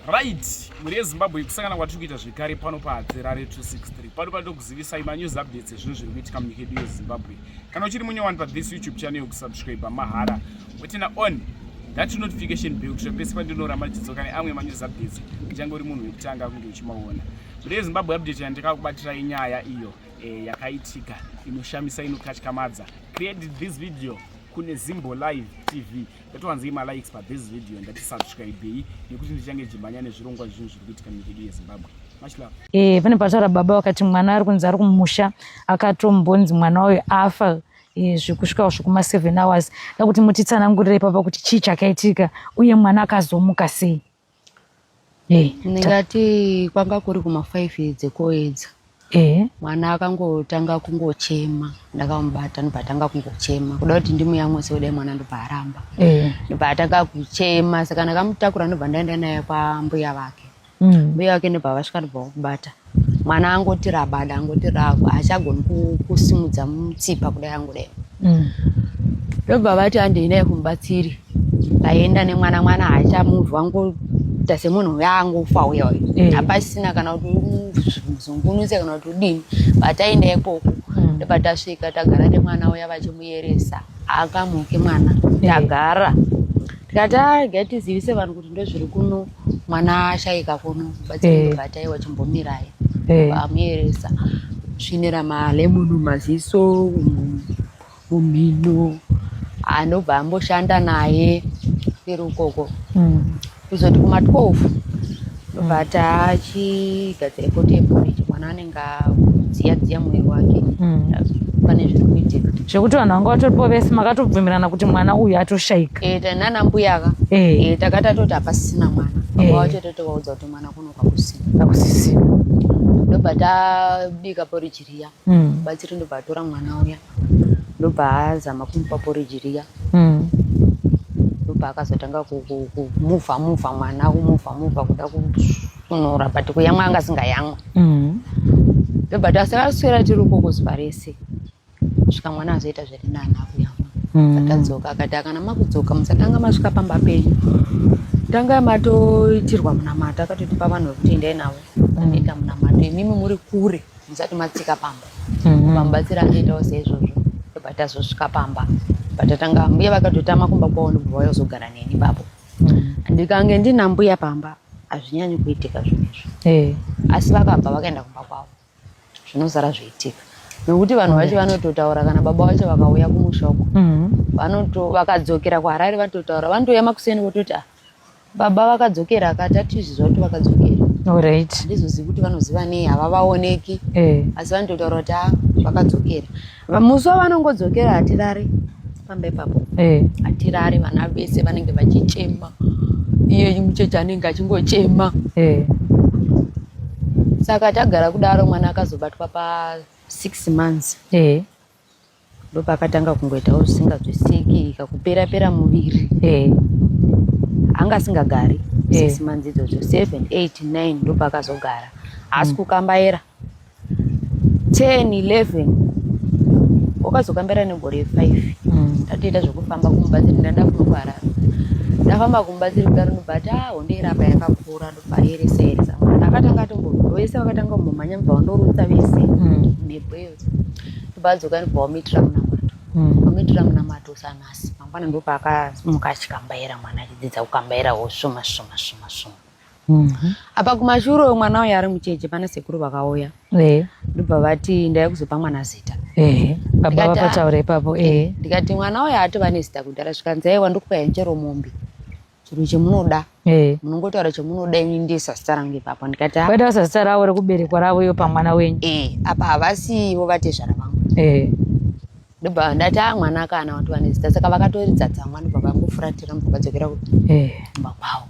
right mhuri yezimbabwe kusangana kwatiri kuita zvekare pano pahadzerare 263 pano panoda kuzivisai manews updates ezvinhu zviri kuitika munyika yedu yezimbabwe kana uchiri munyowani pathis youtube channel yokusubscribe mahara wetena on that notification bell kusvika pese pandinoramba ndichidzoka neamwe manews updates uchange uri munhu wekutanga kunge uchimaona mhuri yezimbabwe update yandikakubatiraa inyaya iyo eh, yakaitika inoshamisa inokatyamadza created this video kune zimbo live tv yatowanzei malikes pa this video ndati subscribei nekuti ndichange chimhanya nezvirongwa zvinhu zviri kuitika munyika yedu yezimbabwe e, pane pataura baba vakati mwana ari kunzi ari kumusha akatombonzi mwana wayo afa e, zvekusvikawo zvekuma seven hours da kuti mutitsanangurire ipapa kuti chii chakaitika uye mwana akazomuka sei Eh, ndingati kwanga kuri kuma five dzekoedza eh. mwana akangotanga kungochema ndakamubata ndobva atanga kungochema kuda kuti ndimuyamwise kudai mwana ndobva aramba eh. ndobva atanga kuchema saka ndakamutakura ndobva ndaenda naye kwambuya vake mm. mbuya vake ndobva vasvika ndobva vakubata mwana angoti rabada angoti rava hachagoni kusimudza mutsipa kudai angudai mm. ndobva mm. vati handei naye kumubatsiri vaenda nemwana mwana haachamuvha ngoita semunhu uya angofa uya uyo mm. hapasina kana kuti muzungunuse kana kuti udini vataenda ikoko mm. ndobva tasvika tagara nemwana uya vachimuyeresa akamuke mwana tagara tikati ah, gai tizivise vanhu kuti ndozviri kuno mwana ashaika kuno batsiribata eh. wachimbomirai eh. amuyeresa svinira malemon maziso mumhino anobva amboshanda naye iri ukoko hmm. kuzoti kuma 12 ndobva hmm. tachigadzira kotembo mwana anenge ngadziya dziya mwiri wake mm. pane zviri kuitika zvekuti vanhu vanga vatoripo vese makatobvumirana kuti mwana uyu atoshaika e, eh, nana mbuyaka e. Eh. e, eh, takati atoti hapasisina mwana e. wachatoto vaudza kuti mwana kuno kwakusina kwakusisina ndobva tabika poriji riya mm. batsiri ndobva atora mwana uya ndobva azama kumupa poriji riya mm. ndobva akazotanga kumuvha muvha mwana kumuvha muvha kuda kusunura but kuyamwa anga asingayamwa mm. ndobva tasakaswera tiri uko kuzuva rese svika mwana azoita zviri nani akuyamwa mm. atadzoka akati akana makudzoka musatanga masvika pamba penyu tanga matoitirwa munamato akatoti pavanhu vekuti endai navo anoita munamato imimi muri kure musati matsika pamba mhm. mamubatsira achiitawo seizvozvo ndobva tazosvika pamba patatanga mbuya vakatotama kumba kwavo ndobva vayozogara neni babo mhm. ndikange ndina mbuya pamba hazvinyanyi kuitika zvinhu izvo eh. asi vakabva vakaenda kumba kwavo zvinozara zviitika nokuti vanhu vacho vanototaura kana baba vacho vakauya kumusha uko mhm. vanoto vakadzokera kuharare vanototaura vanotouya makuseni vototi ah Baba vakadzokera akati atizviziva kuti vakadzokera. Alright. Ndizoziva kuti vanoziva nei havavaoneki. Eh. Asi vanototaura kuti ah, vakadzokera. Musi wavanongodzokera hatirare pamba ipapo. Eh. Hatirare vana vese vanenge vachichema. Iye mucheche anenge achingochema. Eh. Saka tagara kudaro mwana akazobatwa pa six months. Eh. ndopakatanga kungoitawo zvisinganzwisiki kakupera pera muviri eh. anga asingagari eh. six months idzodzo seven eight nine ndopakazogara haasi mm. kukambaira ten eleven wakazokambaira negore five mm. ndatoita zvekufamba kumubatsiri ndanda kunokwara ndafamba kumubatsiri kuda rinobata ah, hondeirapa yakakura ndopaeresaeresa akatanga atombo vese vakatanga kumbomhanya mubva wandorutsa vese mhepo mm. iyo ndobadzoka ndibva wamuitira munamato hmm. wamuitira munamato usanasi mangwana ndopaakamuka achikambaira mwana achidzidza kukambaira wosvuma svuma svuma svuma mhm. apa kumashure uyo mwana uyo ari mucheche pana sekuru vakauya ndobva vati ndaya kuzopa mwana zita baba vapataura ipapo ndikati mwana uyo atova nezita kudhara zvikanzi aiwa ndokupa henjero mombe chiro chemunoda eh. munongotaura chemunoda ini ndiye sasita rangu ipapo ndikati ah. vaitaura sasita ravo rekuberekwa ravo iyo pamwana wenyu eh, apa havasi ivo vatezvara vangu eh. ndobva ndati a ah, mwana akaana vati vane zita saka vakatoridza tsamwa ndobva vangofuratira ndobva vadzokera kumba kwavo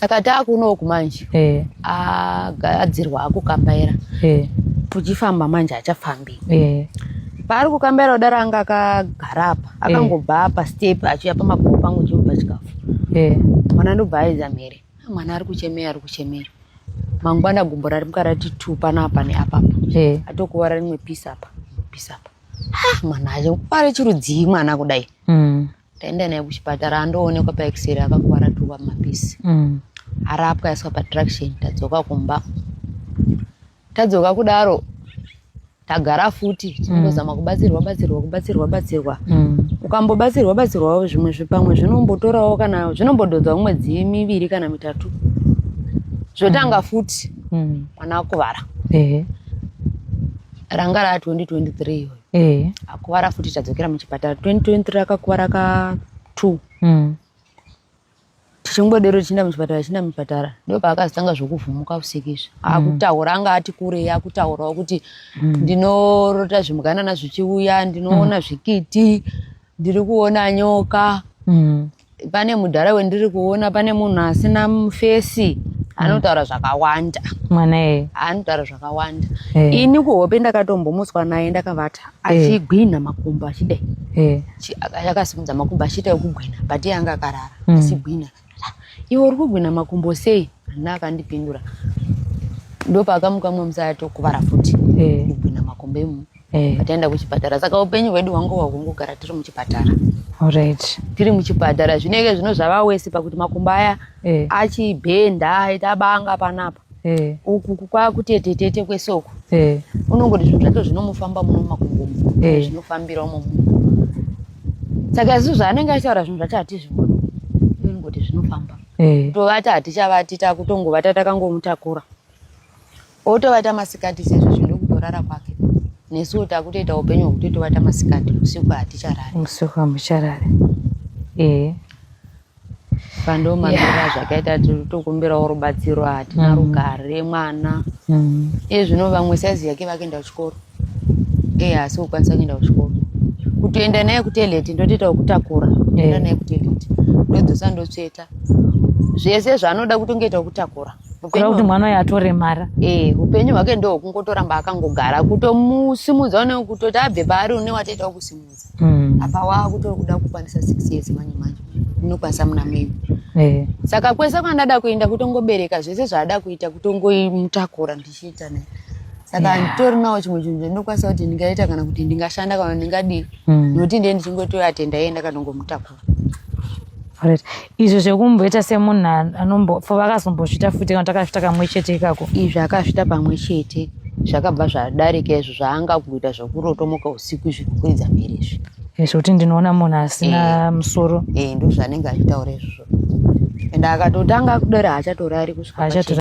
saka taakunoku manje eh. agadzirwa akukambaira eh. tuchifamba manje achafambi eh. paari kukambaira kudaro anga akagara apa akangobva apa step achiuya pamaguru pangu chimupa chikafu mwana ndobva aedza mhere ah, mwana ari kuchemera ari kuchemera mangwana gumbo rari mukarati tu panapa neapapa atokuvara rimwe pisi apa pisi apa ah, mwana acho kwari chirudzii mwana kudai mm. Taenda naye kuchipatara andoonekwa paexere akakuwara tuwa mapisi. Mm. Arapwa aiswa patraction tadzoka kumba. Tadzoka kudaro tagara futi tinozama mm. kubatsirwa batsirwa kubatsirwa batsirwa mm. ukambobatsirwa batsirwawo zvimwe zvipamwe zvinombotorawo kana zvinombododzwa mwedzi miviri kana mitatu zvotanga mm. futi mwana akuvara ranga raa 2023 iyoyo eh. akuvara futi tadzokera muchipatara 2023 akakuvara ka two mm. tichingodero tichienda muchipatara tichienda muchipatara ndo paakazotanga zvokuvhumuka usiku izvi mm. akutaura anga ati kurei akutaurawo kuti mm. ndinorota zvimuganana zvichiuya ndinoona mm. zvikiti ndiri kuona nyoka mm. pane mudhara wendiri kuona pane munhu asina fesi anotaura zvakawanda mwana eye anotaura zvakawanda eh. ini kuhope ndakatombomuswa naye ndakavata eh. achigwinha makumbo achidai eh. akasimudza makumbo achiita ekugwinha but iye anga akarara hmm. achigwinha iwe uri kugwinha makumbo sei ana akandipindura ndopaakamukwa mwe musaya tokuvara futi kugwinha makumbo emu eh. pataenda kuchipatara saka upenyu hwedu hwangu hwahungogara tiri muchipatara right. tiri muchipatara zvinenge zvino zvava wese pakuti makumbo aya eh. achibhenda aita banga panapa eh. uku kwakutetetete kwese uku eh. unongoti zvinhu zvacho zvinomufamba muno makumbo eh. zvinofambira umo muno saka isu zvaanenge achitaura zvinhu zvacho hatizvioni unongoti zvinofamba eh. tovati hatichavati takutongovata takangomutakura Otovata masikati sezvo zvino kutorara kwake. Nesu takutoita upenyu hwekuti tovata masikati usiku haticharari. Usiku hamucharari. Eh. Pando mamira yeah. zvakaita tokumbirawo rubatsiro hatina mm. rugare mwana. Mm. Iye zvino vamwe saizi yake vakuenda kuchikoro. Eh asi ukwanisa kuenda kuchikoro. Kutoenda naye kuteleti ndotoita kutakura. Kuenda eh. naye kuteleti. Ndodzosa ndotsveta. Zvese zvaanoda kutongoita kutakura. kureva kuti mwana uyo atoremara eh upenyu hwake ndo kungotoramba akangogara kutomusimudza une kutoti abve paari une watoita kusimudza mm. apa wa kutori kuda kukwanisa 6 years manje manje unokwanisa muna mimi eh saka kwese kwandada kuenda kutongobereka zvese zvaada kuita kutongoimutakura ndichiita naye saka yeah. nditori nawo chimwe chinhu chandinokwanisa kuti ndingaita kana kuti ndingashanda kana ndingadii mm. nokuti ndiye ndichingotoatenda yeye ndakatongomutakura Alright. izvo zvekumboita semunhu anombo for vakazombozvita futi kana takazvita kamwe chete ikako izvi akazvita pamwe chete zvakabva zvadarika izvo zvaanga kuita zvekurotomoka usiku izvi kukwidza mhiri izvi Eh, zvekuti ndinoona munhu asina musoro eh, ndozvanenge achitaura izvozvo and akatotanga kudera hachatorari kusvika Hachatora- pachena.